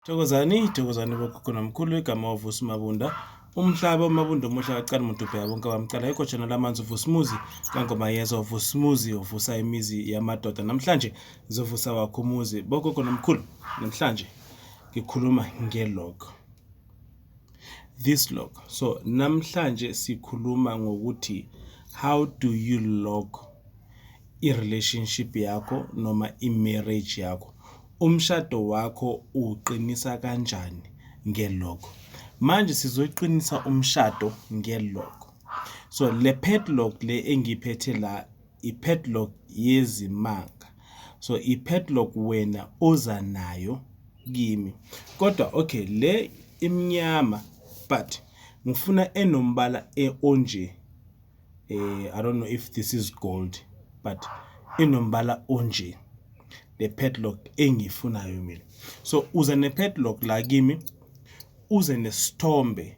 Thokozani, thokozani bokhokho nomkhulu igama wavusa uMabunda. Umhlaba uMabunda omuhle akacala umuntu ubheka bonke abamcala yikho jona lamanzi uvusa umuzi kangoma yeza uvusa umuzi uvusa imizi yamadoda namhlanje zovusa wakho umuzi bokhokho nomkhulu namhlanje ngikhuluma ngelog this log so namhlanje sikhuluma ngokuthi how do you log i-relationship yakho noma i-marriage yakho umshado wakho uqinisa kanjani nge-log manje sizoqinisa umshado nge-log so le padlock le engiphethe la ipadlock yezimanga so ipadlock wena oza nayo kimi kodwa okay le imnyama but ngifuna enombala e onje eh i don't know if this is gold but inombala onje le padlock engiyifunayo mina so uze ne padlock la kimi uze nesithombe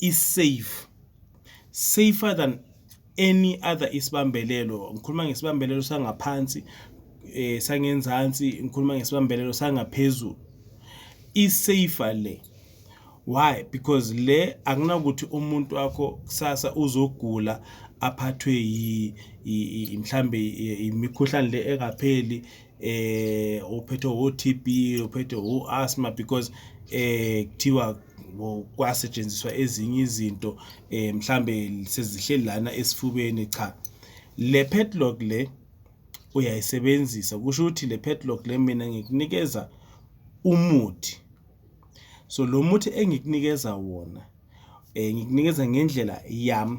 i-safe, safer than any other isibambelelo. Ngikhuluma ngesibambelelo sangaphansi, eh sangenzansi, ngikhuluma ngesibambelelo sangaphezulu. I-safer le. Why? Because le akunakuthi umuntu wakho kusasa uzogula aphathwe yi mhlambe imikhuhlane le engapheli eh uphethwe wo TB uphethwe wo asthma because eh kuthiwa kwasetshenziswa ezinye izinto eh mhlambe sezihleli lana esifubeni cha le padlock le uyayisebenzisa kusho ukuthi le padlock le mina ngikunikeza umuthi so lo muthi engikunikeza wona eh ngikunikeza ngendlela yami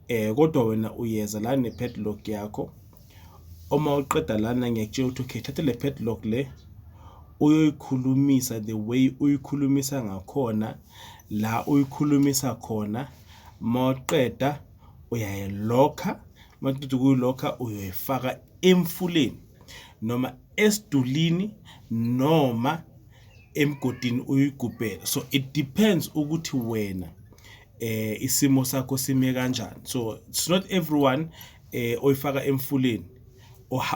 um kodwa wena uyeza la ne-padlock yakho, uma uqeda lana ngiyakutshela ukuthi okay thatha le padlock le uyoyikhulumisa the way uyikhulumisa ngakhona la uyikhulumisa khona, mawuqeda uyayilokha, maqeda ukuyilokha uyoyifaka emfuleni noma esidulini noma emgodini uyigubhele, so it depends ukuthi wena. eh isimo sakho sime kanjani so it's not everyone eh oyifaka emfuleni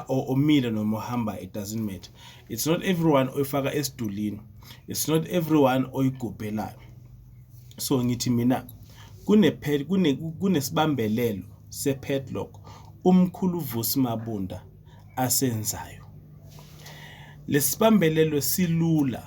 omile noma ohamba it doesn't matter it's not everyone oyifaka esidulini it's not everyone oyigubhelayo so ngithi mina kune kune kunesibambelelo sepadlock umkhulu Vusi Mabunda asenzayo lesibambelelo silula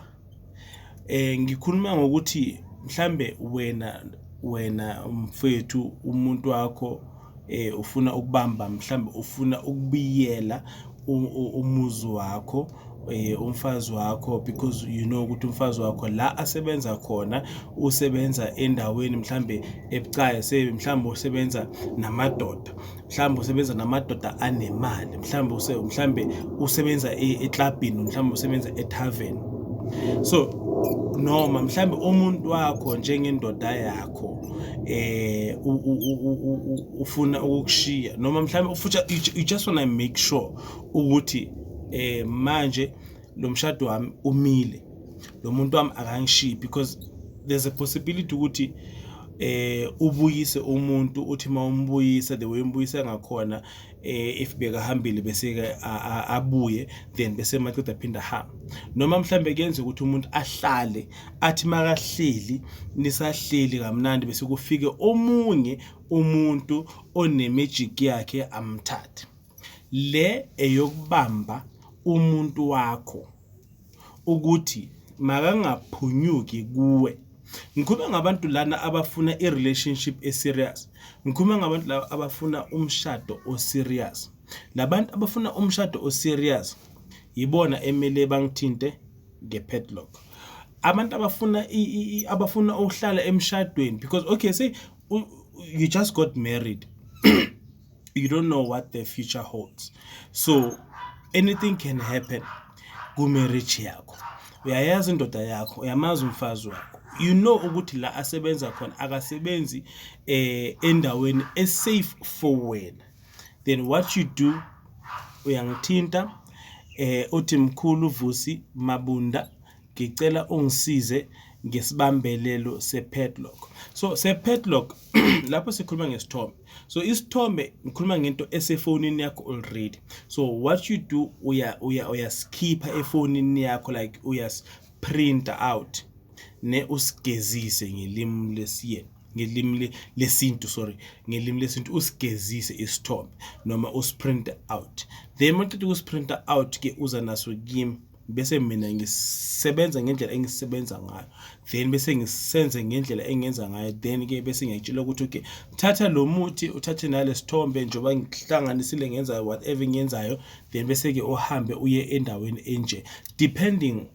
Eh ngikhuluma ngokuthi mhlambe wena wena mfwethu umuntu wakho eh ufuna ukubamba mhlambe ufuna ukubiyela umuzi wakho eh umfazi wakho because you know ukuthi umfazi wakho la asebenza khona usebenza endaweni mhlambe ebucayi se mhlambe usebenza namadoda mhlawumbe usebenza namadoda anemali mhlawumbe use mhlawumbe usebenza eklabhini mhlawumbe usebenza etavern so noma mhlawumbe umuntu wakho njengendoda yakho eh ufuna ukushiya noma mhlawumbe ufuthi you just want to make sure ukuthi eh manje lo mshado wami umile lo muntu wami akangishiyi because there's a possibility ukuthi eh ubuyise umuntu uthi uma umbuyisa the way umbuyisa ngakhona eh if bekahambile bese ke abuye then bese maqeda phinda hamba noma mhlambe kuyenza ukuthi umuntu ahlale athi makahleli nisahleli kamnandi bese kufike omunye umuntu onemagic yakhe amthathe Le eyokubamba umuntu wakho ukuthi makangaphunyuki kuwe. Ngikhuluma ngabantu lana abafuna i-relationship e-serious. Ngikhuluma ngabantu laba abafuna umshado o-serious. Labantu abafuna umshado o-serious yibona emele bangithinte nge-padlock. Abantu abafuna abafuna ukuhlala emshadweni because okay say you just got married you don't know what the future holds so anything can happen kumarriage yakho uyayazi indoda yakho uyamazi umfazi wakho you know ukuthi la asebenza khona akasebenzi eh endaweni esafe for wena then what you do uyangithinta eh uthi mkhulu vusi mabunda ngicela ungisize ngesibambelelo sepadlock so sepadlock lapho sikhuluma ngesithombe so isithombe ngikhuluma ngento esefonini yakho already so what you do uya uya uyasikipha efonini yakho like uyas print out ne usigezise ngelimi lesiyeni ngelimi lesintu sorry ngelimi lesintu usigezise isithombe noma usprint out then maqeda ukusprint out ke uza naso kimi bese mina ngisebenza ngendlela engisebenza ngayo then bese ngisenze ngendlela engenza ngayo then ke bese ngiyakutshela ukuthi okay thatha lo muthi uthathe nale sithombe njengoba ngihlanganisile ngenza whatever engiyenzayo then bese ke uhambe uye endaweni enje depending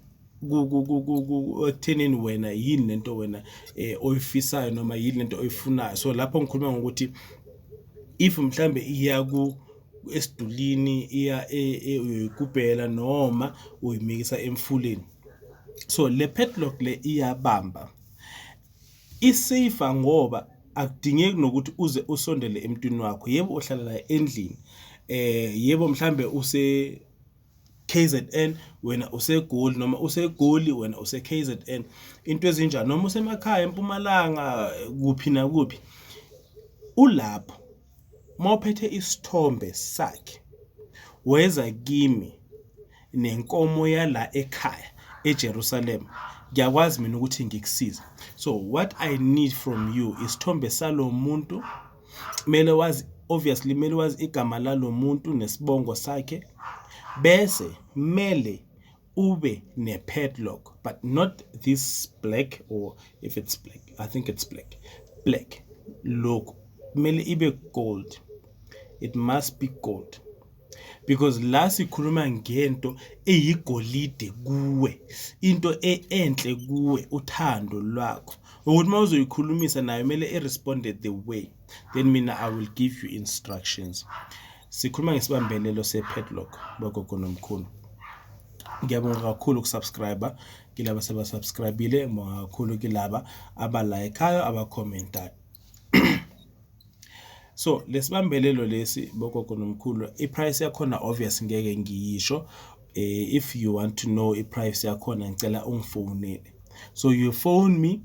ekuthenini wena yini lento wena eh, oyifisayo noma yini lento oyifunayo so lapho ngikhuluma ngokuthi if mhlambe iyaku esidulini iya e, e, uyoyigubhela noma uyimikisa emfuleni so le padlock le iyabamba isafe ngoba akudingeki nokuthi uze usondele emntwini wakho yebo uhlala la endlini eh yebo mhlambe use KZN wena useGoli noma useGoli wena use KZN into ezinjani noma usemakhaya eMpumalanga kuphi na kuphi ulapho uma uphethe isithombe sakhe weza kimi nenkomo yala ekhaya eJerusalem ngiyakwazi mina ukuthi ngikusize so what i need from you isithombe salomuntu kumele wazi obviously kumele wazi igama lalomuntu nesibongo sakhe bese kumele ube ne padlock but not this black or if it's black i think it's black black look kumele ibe gold it must be gold because la sikhuluma ngento eyigolide kuwe into e-, enhle kuwe uthando lwakho ukuthi uma uzoyikhulumisa nayo kumele i-responde the way then mina i will give you instructions Sikhuluma ngesibambelelo se-padlock bagogo nomkhulu. Ngiyabonga kakhulu ukusubscribe kilaba sebasubscribile, ngibonga kakhulu kilaba abalayikhayo abakhomenta. So lesibambelelo lesi bogogo nomkhulu i-price yakhona obvious ngeke ngiyisho. Eh, if you want to know i-price yakhona ngicela ungifonele. So you phone me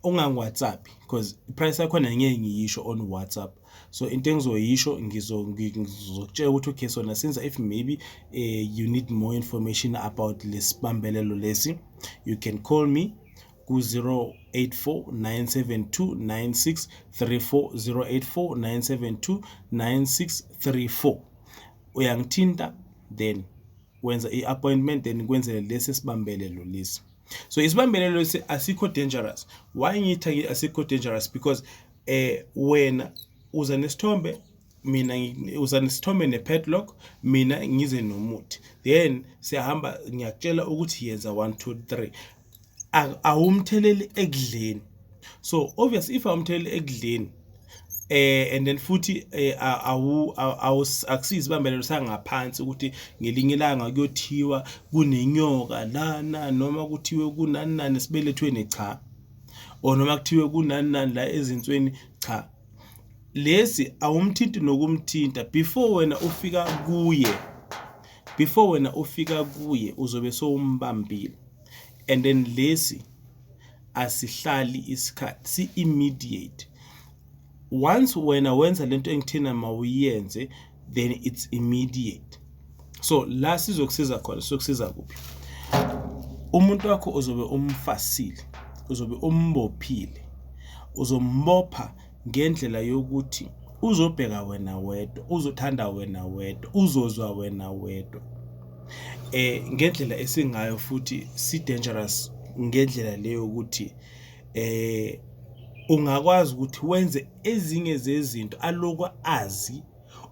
ungangiwhatsappi because i-price yakhona ngeke ngiyisho on whatsapp so into engizoyisho ngizokutshela ukuthi okay so nasenza if maybe uh, you need more information about lesibambelelo lesi you can call me ku-084 972 uyangitinta then wenza i-appointment then kwenzele lesi esibambelelo lesi so isibambelelo lesi asikho dangerous why ngitha asikho dangerous because eh wena uza nesithombe mina uza nesithombe ne-padlock mina ngize nomuthi then siyahamba ngiyakutshela ukuthi yenza one two three awumtheleli ekudleni so obvious if awumtheleli ekudleni eh and then futhi eh, awu akusizi bambelelo sangaphansi ukuthi ngelinye ilanga kuyothiwa kunenyoka lana noma kuthiwe kunani nani esibelethweni cha or noma kuthiwe kunani nani la ezinsweni cha lesi awumthinti nokumthinta before wena ufika kuye before wena ufika kuye uzobe sowumbambile and then lesi asihlali isikhathi si immediate once wena wenza lento engithina mawuyenze then it's immediate so la sizokusiza khona sokusiza kuphi umuntu wakho uzobe umfasile uzobe umbophile uzombopha ngendlela yokuthi uzobheka wena wedwa uzothanda wena wedwa uzozwa wena wedwa eh ngendlela esingayo futhi si dangerous ngendlela leyo ukuthi eh ungakwazi ukuthi wenze ezinye zezinto aloku azi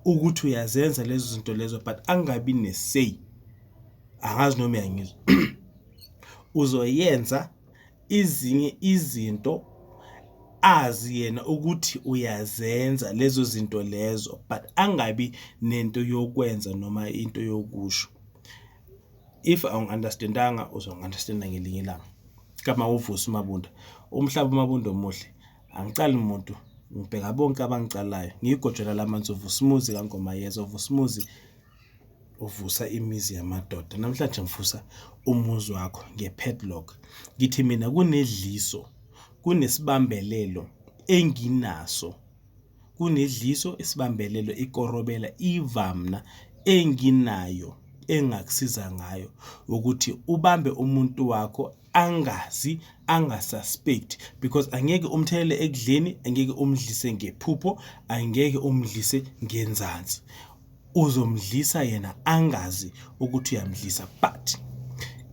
ukuthi uyazenza lezo zinto lezo but angabi nesay angazi noma uyangizwa uzoyenza izinye izinto azi yena ukuthi uyazenza lezo zinto lezo but angabi nento yokwenza noma into yokusho if awungi-understandanga uzongi-understanda ngelinye ilanga kama uvusa umabunda umhlaba umabunda omuhle angicali muntu ngibheka bonke abangicalayo ngiyigojela lamanzi uvusimuzi kangomayeza uvusimuzi uvusa imizi yamadoda namhlanje ngivusa umuzi wakho nge-padlock ngithi mina kunedliso kunesibambelelo enginaso kunedliso isibambelelo ikorobela ivamna enginayo engakusiza ngayo ukuthi ubambe umuntu wakho angazi angasuspect because angeke umthelele ekudleni angeke umdlise ngephupho angeke umdlise ngenzansi uzomdlisa yena angazi ukuthi uyamdlisa but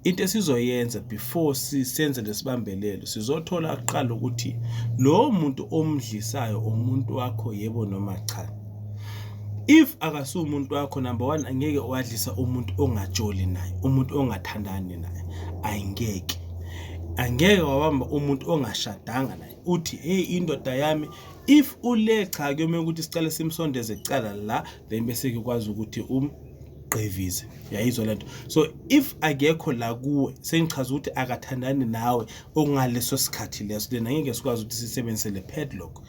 into esizoyenza before sisenze lesibambelelo sizothola kuqala ukuthi lo muntu omdlisayo umuntu wakho yebo noma cha if akasuye umuntu wakho number one angeke wadlisa umuntu ongajoli naye umuntu ongathandani naye ayingeke angeke wabamba umuntu ongashadanga naye uthi hey indoda yami if ule cha kuyomele ukuthi sicale simsondeze kucala la then bese kukwazi ukuthi um ugqivize yayizwa lento so if akekho la kuwe sengichaza ukuthi akathandani nawe okungaleso sikhathi leso then angeke sikwazi ukuthi sisebenzise le padlock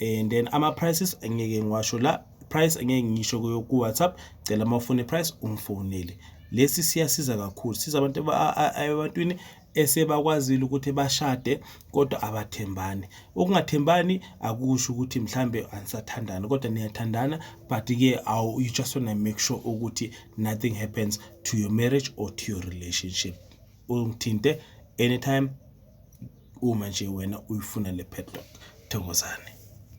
and then ama prices engeke ngiwasho la price engeke ngisho kuyo ku WhatsApp cela uma ufuna price ungifonele lesi siyasiza kakhulu siza abantu ebantwini esebakwazile ukuthi bashade kodwa abathembani ukungathembani akusho ukuthi mhlambe anisathandani kodwa niyathandana but ke awu you just want to make sure ukuthi nothing happens to your marriage or to your relationship ungithinte anytime uma nje wena uyifuna le padlock. Thokozani.